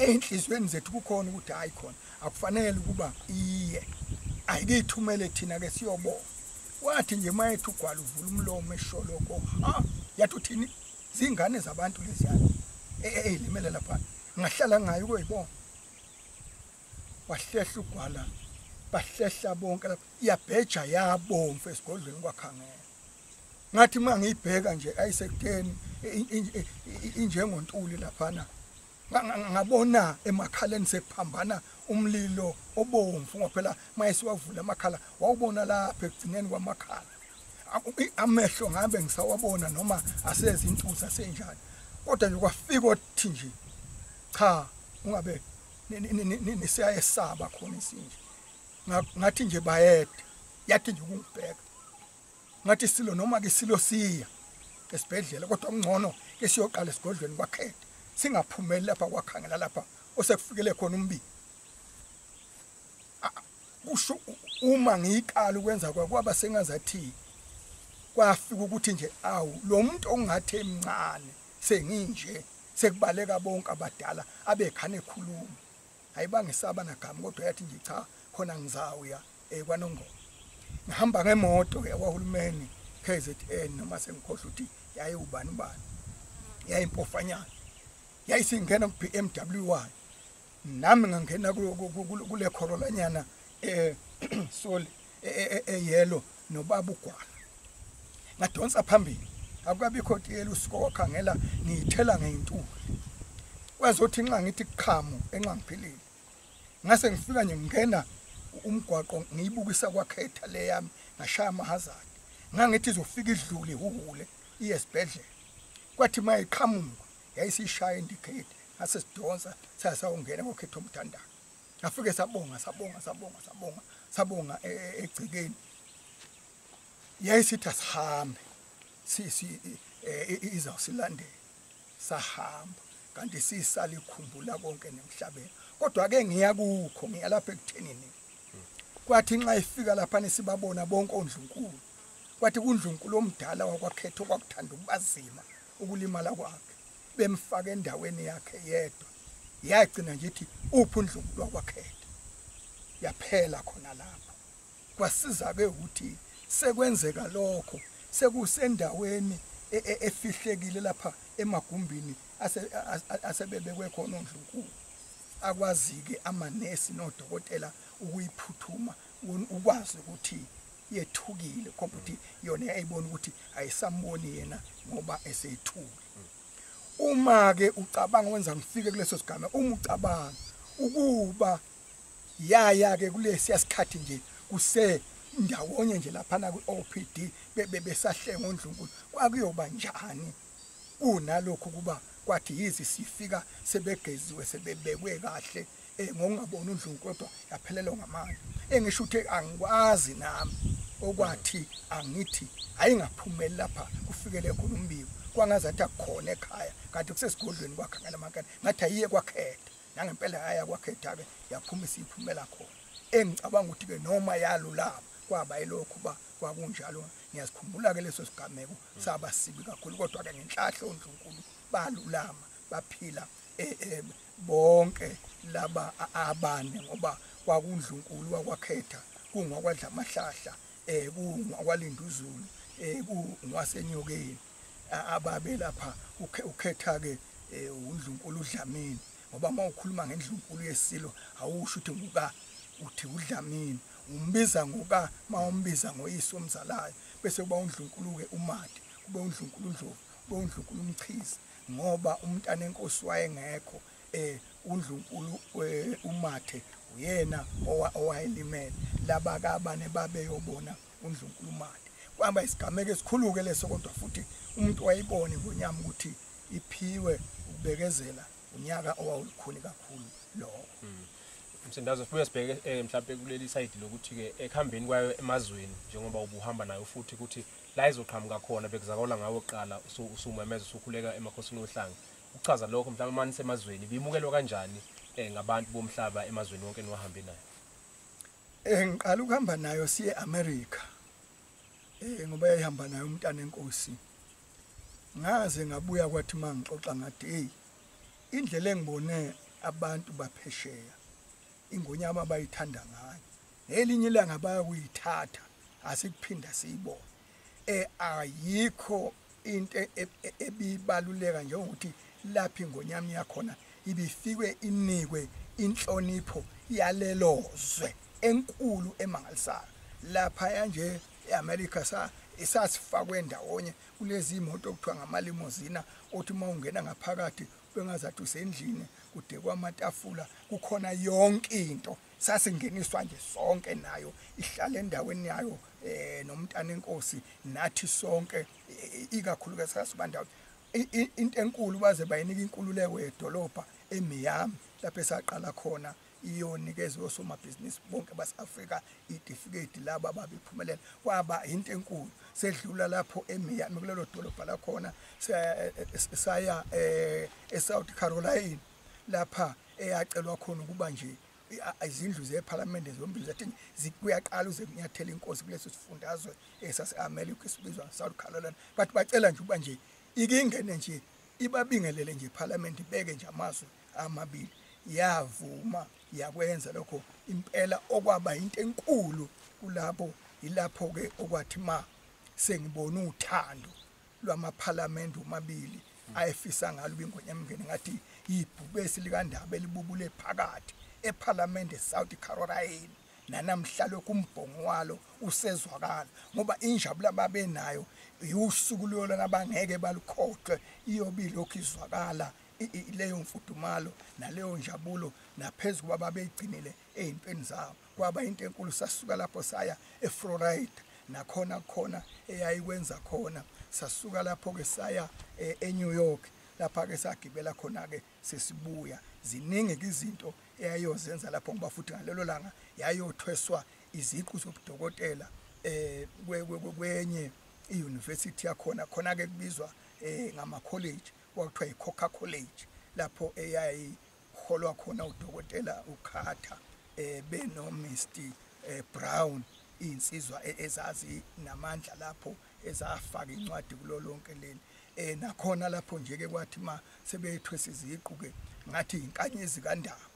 ey'nhliziyweni zethu kukhona ukuthi hhayi khona akufanele ukuba iye ayikiyithumele thina-ke siyobona wathi nje uma ethi ugwala uvula umlomo esholoko ha yathi uthini zingane zabantu leziyana eyilimele lapha ngahlala ngayo koyibona wahlehla ugwala bahlehla bonke lapha iyabheja yabomfu esigodlweni kwakhangela ngathi uma ngiyibheka nje ayisekuteni injengontuli laphana ngabona emakhaleni sekuphambana umlilo obomvu ngoba phela mayesiwavula amakhala wawubona lapha ekugcineni kwamakhala amehlo ngabe ngisawabona noma asezi intuza senjani kodwa nje kwafika othi nje cha ungabe nisiyayesaba khona isinje ngathi nje bayede yathi nje ukungibheka ngathi silo noma ke silo siya esibhedlela kodwa kungcono ke siyoqala esigodlweni kwakhethe singaphumeli lapha kwakhangela lapha osekufikele khona umbi kusho uma ngiyiqala ukwenza kwakwaba sengazathi kwafika ukuthi nje awu lo muntu ongathi emncane senginje sekubaleka bonke abadala abekhane ekhuluma ayibangisaba nagama kodwa yathi nje cha khona ngizawuya eh, kwanongoma ngihamba ngemoto yakwahulumeni KZN noma sengikhohle ukuthi yayewubani ubani yayimpofanyana yayisingena ku-BMW wayo nami ngangena kule Corolla nyana eh soli eyelo e, e, e, nobaba ugwala ngadonsa phambili akukabikho tiyela usikokha ngela ngiyithela ngeyintuli kwazothi nxa ngithi qhamu enxa ngiphilile ngase ngifika nje ngingena umgwaqo ngiyibukisa kwakhetha le yami ngashaya amahazard ngangithi izofika idlule ihuhule iye esibhedlela kwathi uma iqhamuka yayisishaya indikhethi ngase sidonsa sasawungena kokhetha umthandazo Ngafike sabonga sabonga sabonga sabonga sabonga e, e, egcekeni. Yayisithi asihambe. Si si e, izawusilandela. Sahamba kanti sisale ikhumbula konke nemhlabeni. Kodwa ke ngiya kukho ngiya lapha ekuthenini. Kwathi nxa ifika lapha nisibabona bonke ondlunkulu. Kwathi kundlunkulu omdala wakwakhetho kwakuthanda ukubazima ukulimala kwakhe. bemfaka endaweni yakhe yedwa yagcina nje ithi uphi undlunkulu wakwakhete yaphela khona lapho kwasiza-ke ukuthi sekwenzeka lokho sekusendaweni e, e, efihlekile lapha emagumbini asebebekwe khona ondlunkulu akwazi-ke amanesi nodokotela ukuyiphuthuma ukwazi ukuthi yethukile kodwa ukuthi yona yayibona ukuthi ayisamboni yena ngoba eseyithule uma ke ucabanga wenza ngifike kuleso sigame uma ucabanga ukuba yaya ke kulesi yasikhathi nje kuse ndawonye nje lapha na kwiOPD bebe besahlenga ondlunkulu kwakuyoba njani kunalokho kuba kwathi yizi sifika sebegeziwe sebebekwe kahle eh ngokungaboni uNdlovu kodwa yaphelelwa ngamandla engisho ukuthi angikwazi nami okwathi angithi ayingaphumeli lapha kufikele khona umbiko kwangazathi akukhona ekhaya kanti kusesigodlweni kwakhe ngalamakade ngathi ayiye kwakhetha nangempela yaya kwakhetha-ke yaphuma isiyiphumela khona engicabanga ukuthi-ke noma yalulama kwaba yilokhu uba kwakunjalo ngiyazikhumbula-ke leso sigameko saba sibi kakhulu kodwa-ke ngenhlahla ondlunkulu balulama baphila eh, eh, bonke laba abane ngoba kwakundlunkulu wakwakhetha kungwakwadla amahlahla eh kungwakwalinda uzulu eh kungwasenyokeni ababe lapha ukhetha ke eh, undlunkulu udlamini ngoba uma ukhuluma ngendlunkulu yesilo awusho ukuthi nguka uthi udlamini umbiza ngoka uma umbiza ngoyise omzalayo bese kuba undlunkulu-ke umadi kube undlunkulu undlovu kube undlunkulu umchizi ngoba umntanenkosi wayengekho eh undlunkulu eh, umathe uyena owayelimele laba kabane babeyobona undlunkulu umathe kwaba isigameko esikhuluke leso kodwa futhi umuntu wayibone ngonyama ukuthi iphiwe ukubekezela unyaka owawulukhuni kakhulu lowo hmm. msindazo sibuye sibheke um eh, mhlawumpe kuleli sayidi lokuthi-ke ekuhambeni kwayo emazweni njengoba ubuhamba nayo futhi ukuthi la izoqhamuka khona bekuzakala ngawo kuqala usumemeza usukhuleka emakhosini ohlanga ukuchaza lokho mhlawumbe mani semazweni bimukelwa kanjani eh ngabantu bomhlaba emazweni wonke niwahambe nayo eh ngiqala ukuhamba nayo siye America eh ngoba yayihamba nayo umntana enkosi ngaze ngabuya kwathi mangixoxa ngathi hey indlela engibone abantu baphesheya ingonyama bayithanda ngayo ngelinye ilanga bayakuyithatha asikuphinda siyibone eh ayikho into e, e, e, ebibaluleka njengokuthi laphi ngonyama yakhona ibifikwe inikwe inhlonipho yalelozwe enkulu emangalisayo lapha yanje eAmerica sa isasifakwe ndawonye kulezi imoto okuthiwa ngamalimozina othi uma ungena ngaphakathi bengazathi usendlini kudekwa amatafula kukhona yonke into sasingeniswa nje sonke nayo ihlale endaweni yayo eh nomntana enkosi nathi sonke eh, ikakhulukazi sasibandawo into enkulu baze bayinika inkululeko yedolobha eMiami lapho esaqala khona iyonikezwe osomabhizinisi bonke base-afrika itifiketi labo ababephumelela kwaba yinto enkulu sedlula lapho emiyami kulelo dolobha lakhona saya um esouth caroline lapha eyacelwa khona ukuba nje izindlu zephalamende zombili zathi kuyaqala uze kunyathela inkosi kuleso sifundazwe esase-america esibizwa south caroline but bacela nje uba nje ikingene nje ibabingelele nje iphalamende ibeke nje amazwi amabili yavuma yakwenza lokho impela okwaba into enkulu kulabo ilapho ke okwathi ma sengibona uthando lwamaphalamende omabili ayefisa ngalo ubingwenya mngeni ngathi yibhubesi likandaba elibubule phakathi ephalamende South Carolina nanamhla lokhu umbhongo walo usezwakala ngoba injabula babenayo usuku lolona bangeke balukhohlwe iyobile lokhu izwakala leyo mfudumalo naleyo njabulo naphezu kuba babeyigcinile ey'ntweni zabo kwaba into enkulu sasuka lapho saya eflorida nakhona khona eyayikwenza khona sasuka lapho-ke saya e, enew york lapha-ke sagibela khona-ke sesibuya ziningi-ke izinto eyayiyozenza lapho ngoba futhi ngalelo langa yayothweswa iziqu zobudokotela um kwenye i-university yakhona khona-ke kubizwa um ngamakholeji kwakuthiwa yi-coca college lapho eyayiholwa khona udokotela ukhatha um eh, benomr um eh, brown iy'nsizwa e-, ezazi namandla lapho ezafaka incwadi kulo lonke leli um nakhona lapho nje-ke kwathi ma sebethwesa iziqu-ke ngathi yinkanyezi kandaba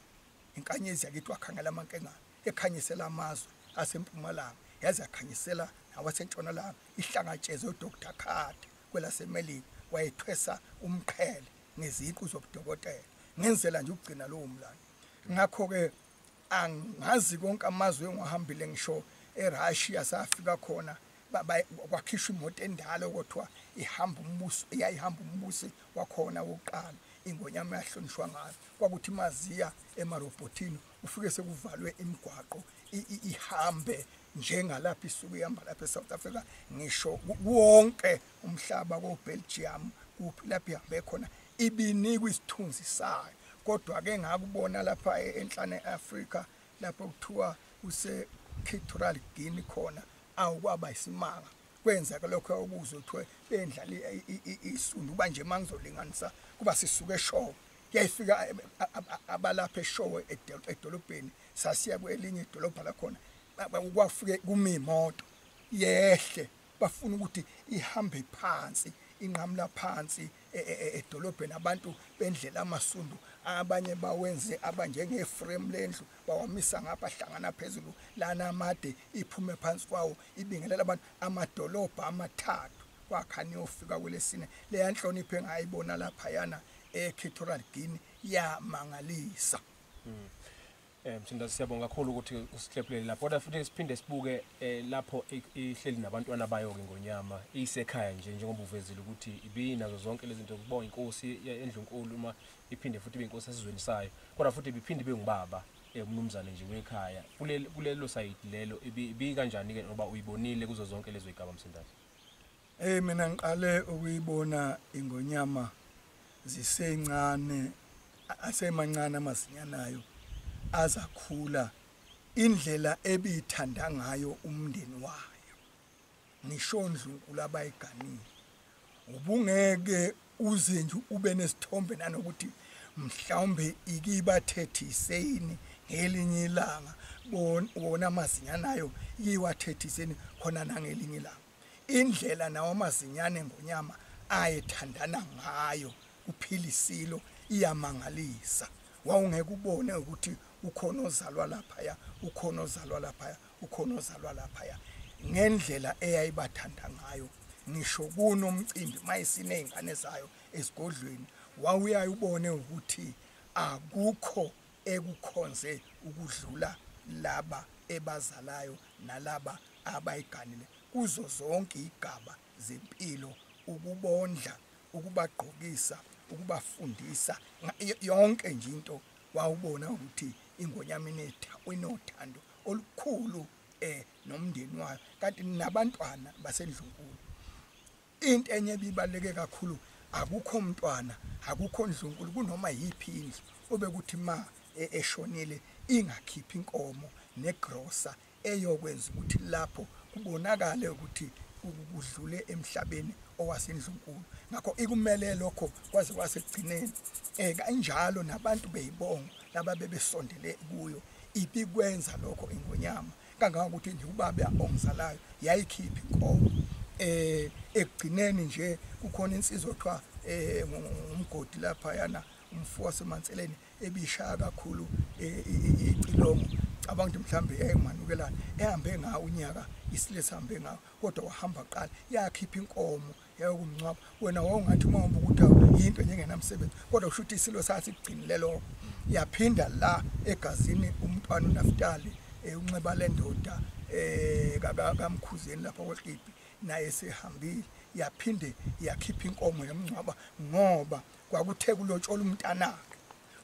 inkanyezi yakithi wakhangela amankengane ekhanyisela amazwe asempumalanga yaze yakhanyisela nawasentshonalanga ihlangatsheze udr carter kwelaseMelika wayethwesa umqhele ngeziqu zobudokotela ngenzela nje ukugcina lowo mlando ngakho-ke angazi konke amazwe engiwahambile ngisho erussia safika khona kwakhishwa imoto endala okuthiwa ihamba umbuso eyayihamba umbusi wakhona wokuqala ingonyama yahlonishwa ngayo kwakuthi maziya emarobhotini ufike sekuvalwe imigwaqo ihambe njengalapha isuke ihamba lapha eSouth Africa ngisho wonke umhlaba koBelgium kuphi lapha ihambe khona ibinikwa isithunzi sayo kodwa ke ngakubona lapha e-, enhlane eAfrica lapho kuthiwa kuse Equatorial Guinea khona awukwaba isimanga kwenzeka lokho okuzwe kuthiwe bendlala isundu banje mangizolinganisa kuba sisuke eshowe kuyayifika abalapha eshowe edolobheni sasiya kwelinye idolobha lakhona kwafike kuma imoto yehle bafuna ukuthi ihambe phansi inqamula phansi e, e, e, edolobheni abantu bendlela amasundu abanye bawenze abanjenge frame lendlu bawamisa ngapha hlangana phezulu lana amade iphume phansi kwawo ibingelela abantu amadolobha amathathu kwakha niyofika kwelesine leya nhlonipho engayibona laphayana equatorial guinea yamangalisa mm. Eh mthinda siyabonga kakhulu ukuthi usihlephulele lapho kodwa futhi siphinde sibuke eh, lapho ihleli nabantwana bayo ke ngonyama isekhaya nje njengoba uvezile ukuthi ibinazo zonke lezi zinto kubonga inkosi endlunkulu uma iphinde futhi beyinkosi esizweni sayo kodwa futhi biphinde bengubaba eh, umnumzane nje wekhaya kulelo side lelo ibi kanjani ke ngoba uyibonile kuzo zonke lezo igaba msindazi Hey mina ngiqale ukuyibona ingonyama zisencane asemancane amasinyanayo azakhula indlela ebithanda ngayo umndeni wayo ngisho ndlunkulu abayiganile ubungeke uze nje ube nesithombe nanokuthi mhlawumbe ikibathethiseni ngelinye ilanga wona amazinyane ayo iwathethiseni khona nangelinye ilanga indlela nawo amazinyane ngonyama ayethandana ngayo kuphila isilo iyamangalisa wawungeke ubone ukuthi ukhona ozalwa laphaya ukhona ozalwa laphaya ukhona ozalwa laphaya ngendlela eyayibathanda ngayo ngisho kunomcimbi mayesiney'ngane zayo esigodlweni wawuyaye ubone ukuthi akukho ekukhonze ukudlula laba ebazalayo nalaba abayiganile kuzo zonke igaba zempilo ukubondla ukubagqokisa ukubafundisa yonke nje into wawubona ukuthi ingonyama inothando olukhulu eh nomndeni wayo kanti nabantwana basendlunkulu into enye ebibaleke kakhulu akukho mntwana akukho ndlunkulu kunoma yiphi indlu obekuthi ma e, eshonile ingakhiphi inkomo negrosa eyokwenza ukuthi lapho kubonakale ukuthi kudlule emhlabeni owasendlunkulu ngakho ikumele lokho kwaze kwasekugcineni um kanjalo nabantu beyibongo laba bebesondele kuyo ibikwenza lokho ingonyama kangangokuthi nje ubaba ongizalayo yayikhipha inkomo eh ekugcineni nje kukhona insizwa okuthiwa eh umgodi lapha yana umfo wasemanseleni ebishaya kakhulu eh, icilomo cabanga ukuthi mhlambe yayimanukelana ehambe ngawo unyaka isile sihambe ngawo kodwa wahamba qala yakhipha inkomo yayokumngcwaba wena wawungathi uma uhamba ukuthi yinto nje engenamsebenzi kodwa kusho ukuthi isilo sasikugcinile lokho yaphinda la egazini umntwana unaftali eh, unxiba le ndoda um kamkhuzeni lapha kwekibhi naye sehambile yaphinde yakhipha inkomo yamngcwaba ngoba kwakuthe kulotshola umntanakhe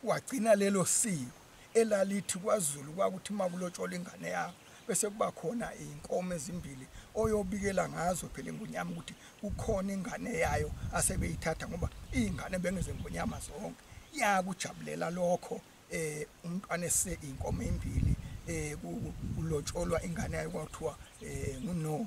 wagcina lelo siko elalithi kwaZulu kwakuthi uma kulotshola ingane yakho bese kuba khona iy'nkomo ezimbili oyobikela ngazo phela ingonyama ukuthi kukhona ingane yayo asebeyithatha ngoba iy'ngane bengezengonyama zonke yakujabulela lokho eh umntwana ese inkomo embili eh kulotsholwa ingane yayo kwathiwa eh nguno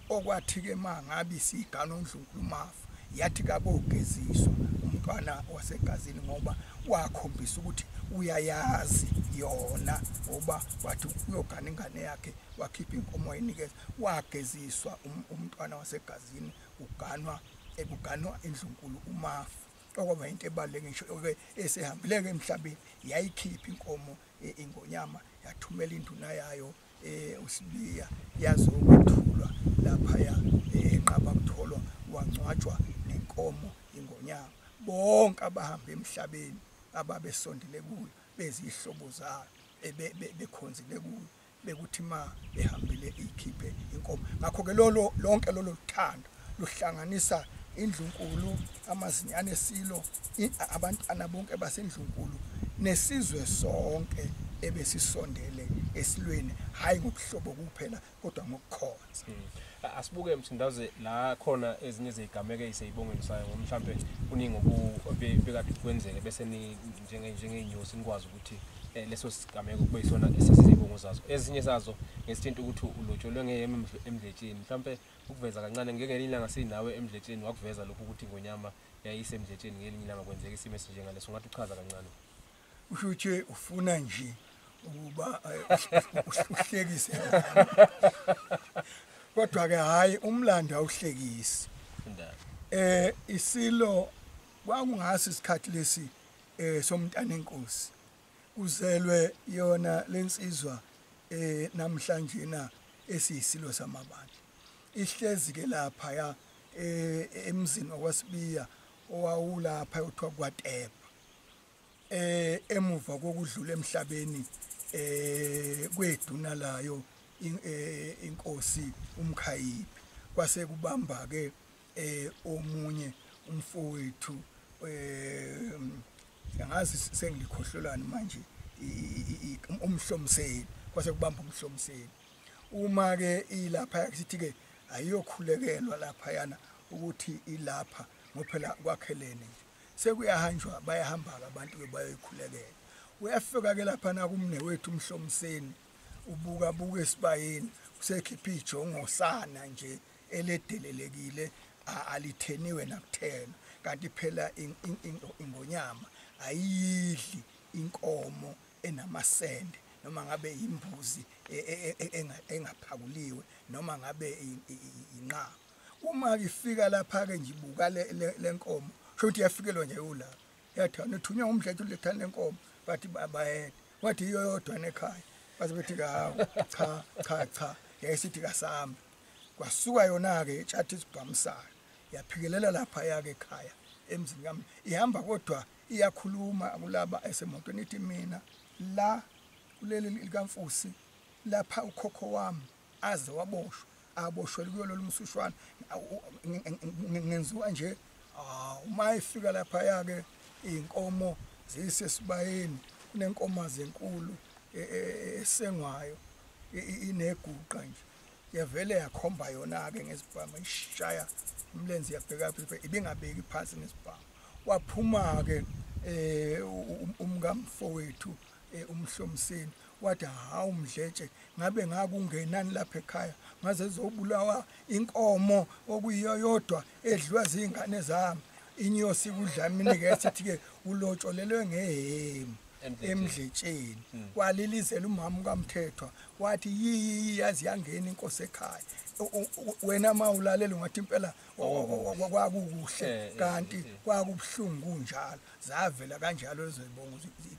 Okwathi-ke ma ngabe isigana uNdlunkulu uMafa, yathi kakogeziswa umntwana wasegazini ngoba wakhombisa ukuthi uyayazi yona ngoba wathi uyogana ingane yakhe wakhipha inkomo wayinikeza wageziswa um, umntwana wasegazini uganwa ekuganwa indlunkulu umafu okwaba into ebaluleke ngisho ke esehambile ke emhlabeni yayikhipha inkomo e, ingonyama yathumela induna yayo eh uSibiya yazi ukuthulwa lapha ya eh, enqaba kutholwa wangcwatshwa nenkomo ingonyama bonke abahamba emhlabeni ababesondele kuyo bezihlobo zalo bekhonzile kuyo bekuthi ma behambile ikhiphe inkomo ngakho ke lolo lonke lolo luthando luhlanganisa indlunkulu amazinyane esilo abantwana bonke basendlunkulu nesizwe sonke ebesisondele esilweni hayi ngobuhlobo kuphela kodwa ngokukhonza hmm. asibuke msindaze la khona ezinye zezigameko eziseyibongweni sayo ngoba mhlampe kuningi obekade kwenzeke bese ni njenge njengeyinyosi nikwazi ukuthi eh, leso sigameko kube isona esesizibongo zazo ezinye zazo ngesithinta ukuthi ulotsholwe ngeyeme emdletsheni mhlampe ukuveza kancane ngelinye ilanga sinawe emdletsheni wakuveza lokhu ukuthi ngonyama yayisemdletsheni ngelinye ilanga kwenzeka isimo esinjengaleso ungathi uchaza kancane usho ukuthi ufuna nje ukuba eh, uhlekise kodwa ke hayi umlando awuhlekisi eh isilo kwakungasi isikhathi lesi eh somntana enkosi kuzelwe yona lensizwa eh namhlanje na esiyisilo samabandla ihlezi ke lapha ya eh, emzini wakwasibiya owawulapha uthiwa kwatepa eh emuva kokudlula emhlabeni eh kweduna layo eh, inkosi umkhayiphi kwase kubamba ke eh omunye umfowethu eh angazi sengilikhohlolani manje umhlomseli kwase kubamba umhlomseli uma ke ilapha sithi ke ayiyokhulekelwa lapha yana ukuthi ilapha ngophela kwakhelene nje sekuyahanjwa bayahamba abantu ke bayoyikhulekela uyafika ke lapha na kumne wethu umhlomseni ubuka buka esibayeni usekhipha ijongo sana nje eledelelekile alitheniwe nakuthena kanti phela ingonyama ayidli inkomo enamasende noma ngabe imbuzi e, e, e, engaphakuliwe noma ngabe inqaba uma ifika lapha ke nje ibuka lenkomo sho ukuthi yafikelwa nje ulapha yathana uthunywa umdlethu lethana lenkomo bathi bayede wathi iyo yodwa nekhaya bathi bethi kawu cha cha cha yayisithi kasami kwasuka yona-ke itshathi esibhamusayo yaphikelela lapha yake ekhaya emzini kami ihamba kodwa iyakhuluma kulaba esemotweni ithi mina la kuleli likamfusi lapha ukhokho wami aze waboshwa aboshwele kuyo lolu msushwana ngenziwa nje ah, uma efika lapha yake iy'nkomo ziyisesibayeni kunenkomazi enkulu e, e, e, esengwayo ineguqa nje yavele yakhomba yona-ke ngesibhamu ishaya umlenze yabheka ibingabeki phansi ngesibhamu waphuma-ke eh, um umkamfowethu eh, umhlomseni wathi hawu mdletshe ngabe ngakungenani lapha ekhaya ngaze zobulawa inkomo okuyiyo yodwa edliwa zingane zami inyosi kudlamini ke sithi ke ulotsholelwe ngehemu emdletsheni hmm. walilizela umama ukamthethwa wathi yiyiyi yazi yangena inkosi ekhaya wena ma ulalela ungathi impela kwakukuhle eh, eh, kanti eh, kwakubuhlungu kunjalo zavela kanjalo ezoyibonga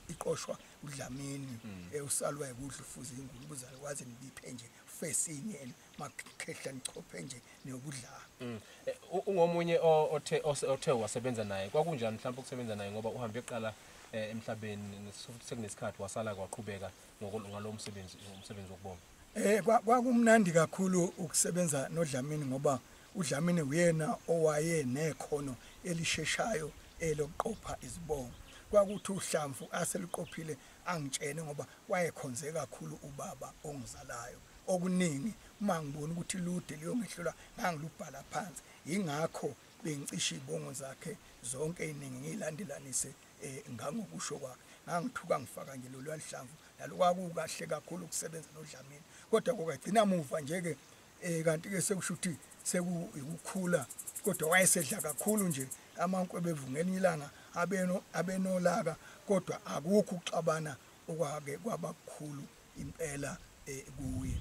iqoshwa udlamini hmm. usalwa yikudla ufuza ingulubuzalo kwaze nibiphe nje fesinye makhehla nichophe nje nokudlala mm. eh, ungomunye othe othe wasebenza naye kwakunjani mhlawumbe ukusebenza naye ngoba uhambe eqala eh, emhlabeni sekunesikhathi wasala kwaqhubeka ngalo msebenzi umsebenzi wokubonga eh kwakumnandi kakhulu ukusebenza noDlamini ngoba uDlamini uyena owaye nekhono elisheshayo elokuqopha izibongo kwakuthi uhlamvu aseliqophile Angitshene ngoba wayekhonze kakhulu ubaba ongizalayo. Okuningi uma ngibona ukuthi lude luyongehlula ngangilubhala phansi. Yingakho bengicisha izibongo zakhe zonke iningi ngilandelanise eh, ngangokusho kwakhe. Ngangithuka ngifaka nje lolwalihlamvu nalo kwakukahle kakhulu ukusebenza noDlamini. Kodwa kokagcina muva nje ke eh kanti ke sekusho ukuthi sekuyikukhula kodwa wayesedla kakhulu nje amankwe bevungelinye ilanga abeno abenolaka kodwa akukho uxabana okwake kwabakhulu impela eh, kuye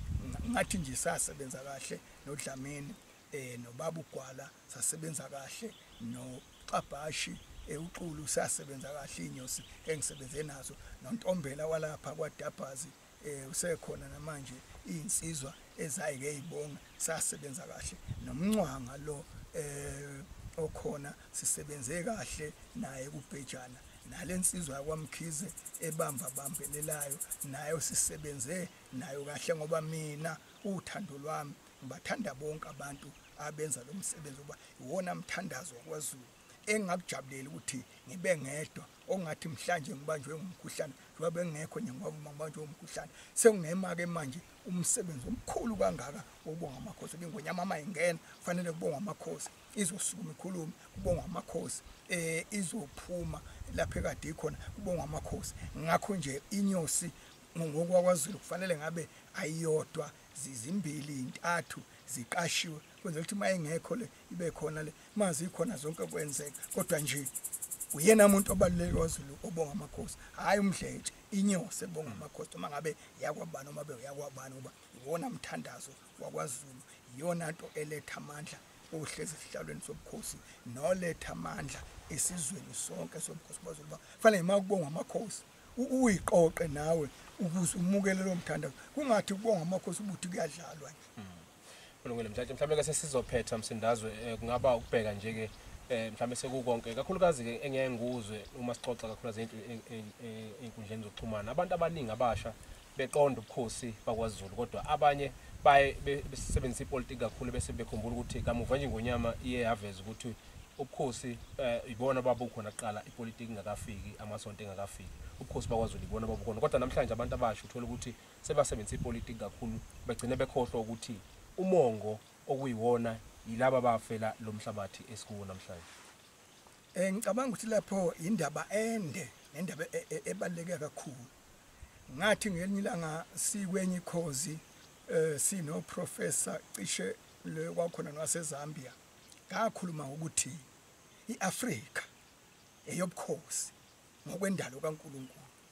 ngathi nje sasebenza kahle nodlamini eh nobaba ugwala sasebenza kahle no xabhashi ewuxulu sasebenza kahle inyosi engisebenze nazo nontombela walapha kwadabhazi eh usekhona namanje insizwa ezayike izibonga sasebenza kahle nomncwanga lo eh okhona sisebenze kahle naye kubhejana nalensizwa yakwamkhize ebamba bambelelayo nayo sisebenze nayo kahle ngoba mina uthando lwami ngibathanda bonke abantu abenza lo msebenzi uba iwona mthandazo wakwazulu engakujabuleli ukuthi ngibe ngedwa ongathi mhlanje ngibanjwe umkhuhlane njengoba bengekho nje ngoba uma ngibanjwe umkhuhlane sekunema-ke manje umsebenzi omkhulu kangaka wokubonga amakhosi ibingonyama ama ingena kufanele kubongwa amakhosi izosukuma ikhulume kubongwa amakhosi um izophuma lapho ekade ikhona kubongwa amakhosi ngakho nje inyosi ngokwakwazulu kufanele ngabe ayiyodwa zizimbili intathu ziqashiwe kwenzela ukuthi uma ingekho le ibe khona le mazi ikhona zonke kwenzeka kodwa nje uyena muntu obaluleke kwaZulu obonga amakhosi hayi umdletshe inyose bonga amakhosi uma ngabe yakwabani uma be uyakwabani uba iwona mthandazo wakwaZulu iyona nto eletha amandla ohlezi esihlalweni sobukhosi noletha amandla esizweni sonke sobukhosi kwaZulu uba fanele uma kubonga amakhosi uyiqoqe nawe ukuze umukele lo mthandazo kungathi kubonga amakhosi ubuthi kuyadlalwa nje mm. kulungile mthathe mhlawumbe ke sesizophetha msindazwe eh, kungaba ukubheka nje ke eh, mhlawumbe sekukonke kakhulukazi ke engiyaye ngikuzwe uma sixoxa kakhulukazi ey'nkundleni zokuxhumana abantu abaningi abasha beqonda ubukhosi bakwaZulu kodwa abanye baye besebenzisa ipolitiki kakhulu bese bekhumbula ukuthi kamuva nje ngonyama iye yaveza ukuthi ubukhosi eh, ibona babukhona kuqala ipolitiki ingakafiki amasonto engakafiki ubukhosi bakwaZulu ibona babukhona kodwa namhlanje abantu abasha uthola ukuthi sebasebenzisa ipolitiki kakhulu begcine bekhohlwa ukuthi umongo okuyiwona yilaba bafela lo mhlabathi esikuwo namhlanje um ngicabanga ukuthi lapho yindaba ende nendaba e, e, ebaluleke kakhulu ngathi ngelinye ilanga sikwenye ikhozi um sinoprofesa cishe le kwakhona nowasezambia ngakhuluma ngokuthi i-afrika eyobukhosi ngokwendalo kankulunkulu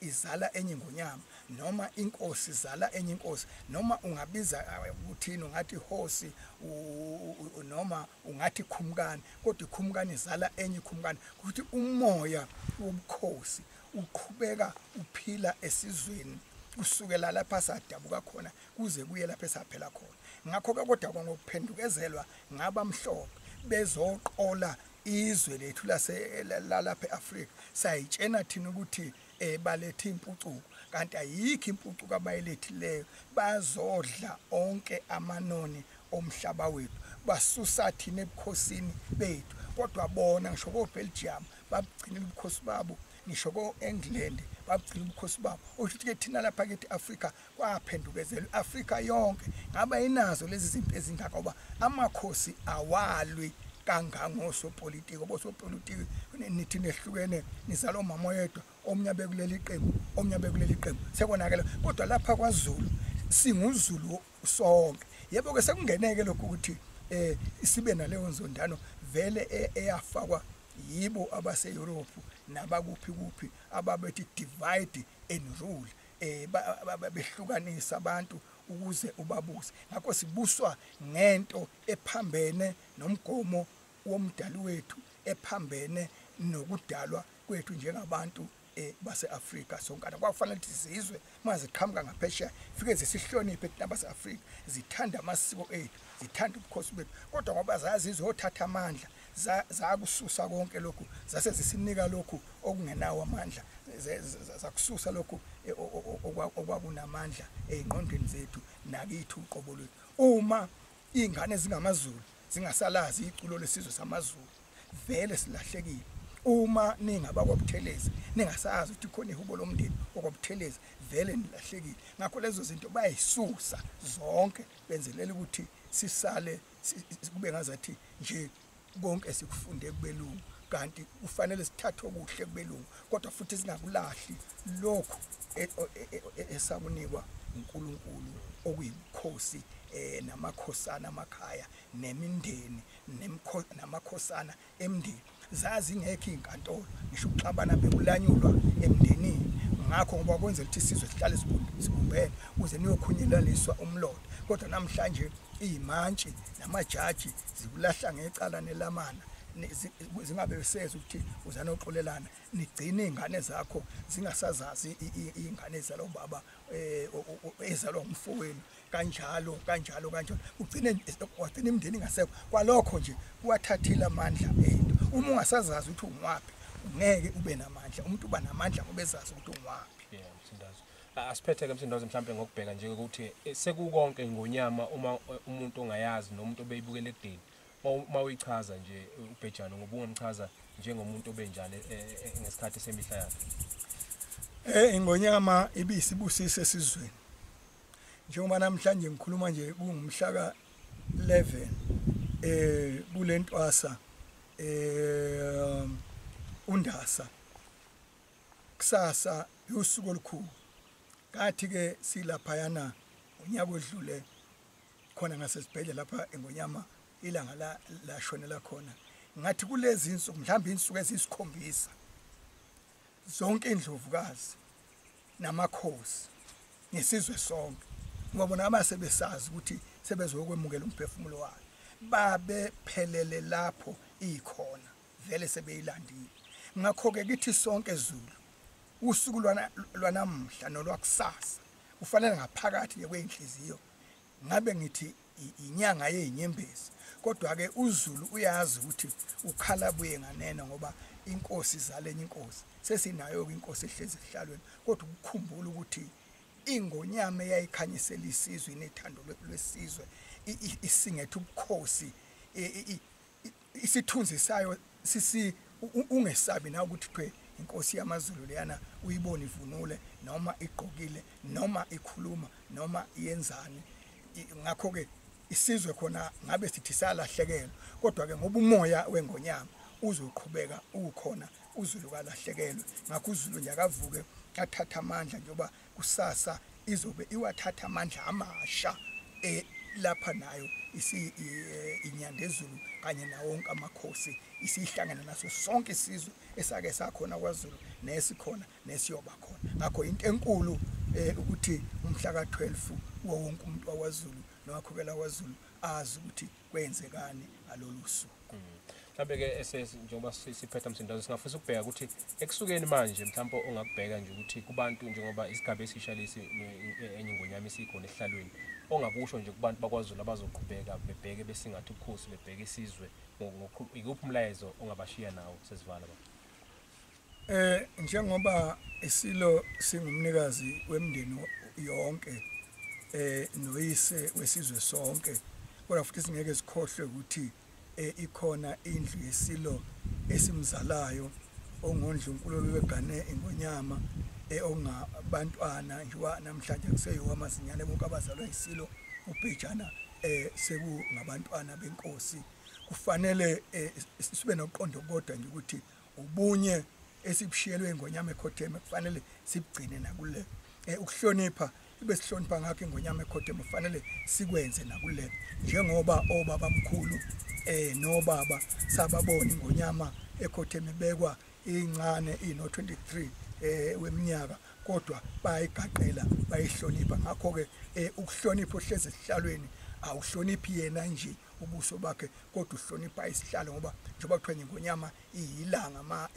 izala enye ingonyama noma inkosi izala enye inkosi noma ungabiza eh, ukuthini ungathi ihosi noma ungathi ikhumkani kodwa ikhumkani izala enye ikhumkani ukuthi umoya wobukhosi uqhubeka uphila esizweni kusukela lapha sadabuka khona kuze kuye lapha esaphela khona ngakho ke kodwa kwangokuphendukezelwa ngabamhlophe bezoqola izwe lethu lase lalapha eAfrika sayitshena thina ukuthi eh balethe impucuko kanti ayikho impucuko abayilethileyo bazodla onke amanoni omhlaba wethu basusa thina ebukhosini bethu kodwa bona ngisho ko Belgium babugcina ubukhosi babo ngisho ko England babugcina ubukhosi babo usho ukuthi ke thina lapha kithi Africa kwaphendukezela i-afrika yonke ngaba inazo lezi zinto ezingaka uba amakhosi awalwi kangangosopolitiki obosopolitiki nithi nehlukene nizala omama oyedwa omnye bekuleli qembu omnye bekuleli qembu sekonakele kodwa lapha kwazulu singuzulu sonke yebo-ke sekungeneke lokhu ukuthi um sibe naleyo nzondano vele e-, eyafakwa yibo abaseyurophu nabakuphi kuphi ababethi divide and rule eh behlukanisa abantu ukuze ubabuse ngakho sibuswa ngento ephambene nomgomo womdali wethu ephambene nokudalwa kwethu njengabantu eh, base-afrika sonkana kwakufanele ukuthi zizwe uma ziqhamuka ngaphesheya fike zisihloniphe thina base-afrika zithanda amasiko ethu zithanda ubukhosi bethu kodwa ngoba zazizwe othatha amandla zakususa konke lokhu zase zisinika lokhu okungenawo amandla zakususa lokhu e, okwakunamandla ey'ngqondweni zethu nakithi uqobo lwethu uma iy'ngane zingamazulu zingasalazi iculo lesizwe samazulu vele silahlekile uma ningaba kwabuthelezi ningasazi ukuthi khona ihubo lomndeni okwabuthelezi vele nilahlekile ngakho lezo zinto bayisusa zonke benzelela ukuthi sisale kube ngazathi nje konke sikufunde kubelungu kanti kufanele sithathe okuhle kubelungu kodwa futhi singakulahli lokhu e, e, e, esakunikwa uNkulunkulu okuyibukhosi eh namakhosana amakhaya nemindeni namakhosana emndeni zazi ngekho izinkantolo ngisho ukuxabana bekulanyulwa emndenini ngakho ngoba kwenzela ukuthi isizwe sihlale sibumbene kuze niyokhunyelaliswa umlotha kodwa namhlanje iyimantshi namajaji zikulahla ngecala nelamana zingabe beseza ukuthi uzana uxolelana nigcine izingane zakho zingasazazi izingane zalo baba eh ezalwa umfowenu kanjalo kanjalo kanjalo ugcine wagcina imndeni ngasekho kwalokho nje kuwathathile amandla ento uma ungasazazi ukuthi ungwaphi ngeke ube namandla umuntu uba namandla ngoba ezazi ukuthi ungwaphi yeah msindazo asiphethe ke msindazo mhlambe ngokubheka nje ukuthi eh, sekukonke ngonyama uma eh, umuntu ongayazi nomuntu obeyibukele ekudeni uma uyichaza nje eh, ubhejana ngoba ungamchaza njengomuntu obenjani ngesikhathi semihla yakhe eh ingonyama ibisibusise esizweni njengoba namhlanje ngikhuluma nje kungumhla ka 11 eh kulentwasa eh undasa kusasa usuku olukhulu kathi ke silapha yana unyaka odlule khona ngasesibhedlela lapha engonyama ilanga la lashonela khona ngathi kulezi insuku mhlawumbe insuku ezisikhombisa zonke indlovukazi namakhosi nesizwe sonke ngoba bona abase besazi ukuthi sebezokwemukela umphefumulo wakhe babephelele lapho ikhona vele sebeyilandile ngakho-ke kithi sonke zulu usuku lwanamuhla nolwakusasa ufanele ngaphakathi kwey'nhliziyo ngabe ngithi inyanga yezinyembezi kodwa ke uZulu uyazi ukuthi ukhala buye nganeno ngoba inkosi izalenye inkosi sesinayo ke inkosi ehlezi ehlalweni kodwa ukukhumbula ukuthi ingonyama eyayikhanyisela isizwe inethando lwesizwe isingethe ubukhosi isithunzi sayo sisi ungesabi na ukuthi kuthiwe inkosi yamazulu leyana uyibona ivunule noma igqokile noma ikhuluma noma yenzani ngakho ke isizwe khona ngabe sithi salahlekelwa kodwa ke ngoba umoya wengonyama uzoqhubeka ukhona uzulu kalahlekelwe ngakho uzulu nje akavuke athatha amandla njengoba kusasa izobe iwathatha amandla amasha e lapha nayo isi e, inyandezulu kanye nawonke amakhosi isihlangana naso sonke isizwe esake sakhona kwaZulu nesikhona nesiyoba khona ngakho into enkulu e, ukuthi umhla ka12 wonke umuntu wawaZulu nowakhokela waZulu azi ukuthi kwenzekani ngalolu suku mm. mhlawumbe ke esesi njengoba siphetha msindazo singafisa ukubheka ukuthi ekusukeni manje mhlawumbe ongakubheka nje ukuthi kubantu njengoba isigaba esisha lesi enye ingonyama isikhona ehlalweni ongakusho nje kubantu bakwazulu abazoqhubeka bebheke besingathi ubukhosi bebheke isizwe ikuphi umlayezo ongabashiya nawo sesivala ba Eh njengoba isilo singumnikazi wemndeni yonke eh noyise wesizwe sonke kodwa futhi singeke sikhohlwe ukuthi eh, ikhona indlu yesilo esimzalayo ongondlunkulu wegane ingonyama eh, ongabantwana njengoba namhlanje kuseyiwo amazinyane bonke abazalwa isilo ubhejana eh sekungabantwana benkosi kufanele eh, sibe noqondo kodwa nje ukuthi ubunye esibushiyelwe ingonyama ekhotheme kufanele sibugcine nakule eh, ukuhlonipha ibe sihlonipha ngakho ingonyama ekhotheme kufanele sikwenze nakule njengoba obaba mkhulu eh nobaba sababona ingonyama ekhotheme bekwa incane ino 23 eh weminyaka kodwa bayigaqela bayihlonipha ngakho ke eh, ukuhlonipha ohleze sihlalweni awuhloniphi yena nje ubuso bakhe kodwa uhlonipha isihlalo ngoba njengoba kuthiwa ngenkonyama iyilanga ma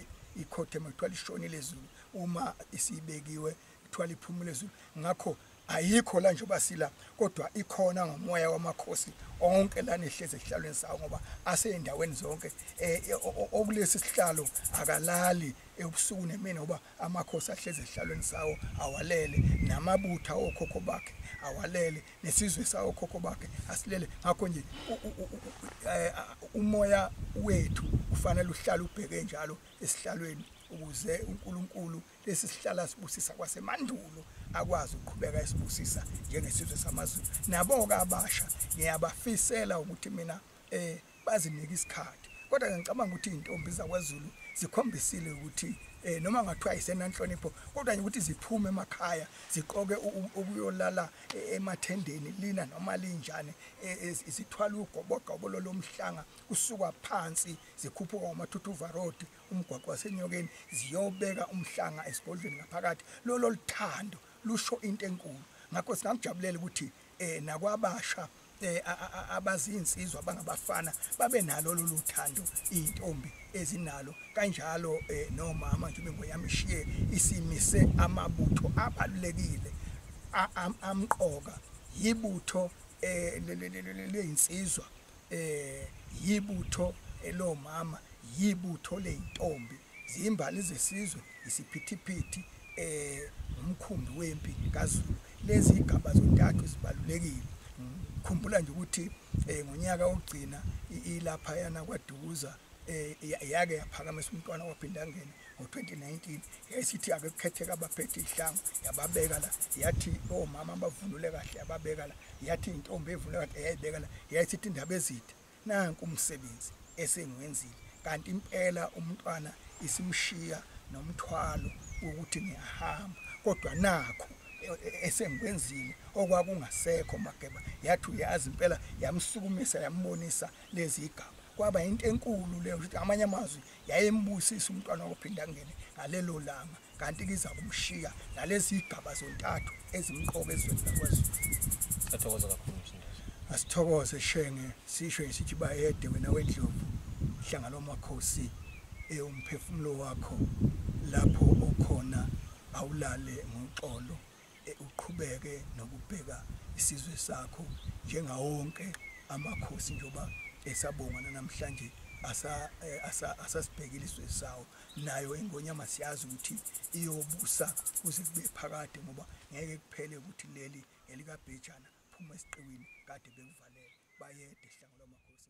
ikhothema kuthiwa lishonile ezulu uma isibekiwe kuthiwa liphumule ezulu ngakho ayikho la njengoba sila kodwa ikhona ngomoya wamakhosi onke lana ehlezi esihlalweni sawo ngoba aseyindaweni zonke eh, eh, okulesi sihlalo akalali ebusuku nemini ngoba amakhosi ahlezi esihlalweni sawo awalele namabutha okhokho bakhe awalele nesizwe sawokhokho bakhe asilele ngakho nje eh, umoya wethu ufanele uhlale ubheke njalo esihlalweni ukuze uNkulunkulu lesi sihlala sibusisa kwasemandulo akwazi ukuqhubeka esibusisa njengesizwe samaZulu nabo ke abasha ngiyabafisela ukuthi mina eh bazinike isikhathi kodwa ke ngicabanga ukuthi izintombi zakwaZulu zikhombisile ukuthi eh noma ngathiwa isenanhlonipho kodwa ukuthi ziphume emakhaya ziqoke ukuyolala eh, emathendeni lina noma linjani eh, eh, isithwala ugobogobo lomhlanga kusuka phansi zikhuphuka umathuthuva road umgwaqo wasenyokeni ziyobeka umhlanga esigodlweni ngaphakathi lolo lithando lusho into enkulu ngakho singakujabulela ukuthi eh nakwabasha eh abazinsizwa bangabafana babe nalo lolu thando izintombi ezinalo kanjalo eh, nomama nje bengoyami shiye isimise amabutho abalulekile amqoka yibutho eh leyinsizwa eh yibutho elomama yibutho leintombi zimbali zesizwe isiphithiphithi eh umkhumbi wempi kaZulu lezi igaba zontathu zibalulekile ngikhumbula nje ukuthi eh ngonyaka ogcina ilapha yana kwadukuza eh yake yaphakamisa umntwana waphindangena ngo-2019 yayisithi ake kukhetheka abaphethe ihlango yababeka la yathi omama abavunule kahle yababeka la yathi intombi evunule kahle eyayibeka la yayisithi indaba ezithe nanku umsebenzi esengiwenzile kanti impela umntwana isimshiya nomthwalo wokuthi ngiyahamba kodwa nakho e, e, esengikwenzile okwakungasekho mageba yathi uyazi impela yamsukumisa yambonisa lezi igaba kwaba into enkulu leyo ukuthi amanye amazwi yayembusisa umntwana wokuphinda angene ngalelo langa kanti kiza kumshiya nalezi igaba zontathu ezimqoka ezweni lakwazulu athokoza kakhulu msindazi asithokoze shenge sisho isithi bayede wena wendlovu hlanga lomakhosi ewumphefumulo wakho lapho okhona awulale ngoxolo eh, uqhubeke nokubheka isizwe sakho njengawonke amakhosi njengoba esabonga nanamhlanje eh, asasibhekile isizwe sawo nayo ingonyama siyazi ukuthi iyobusa kuze kube phakade ngoba ngeke kuphele ukuthi leli elikabhejana phuma esiqiwini kade bekuvalele bayede hlangola amakhosi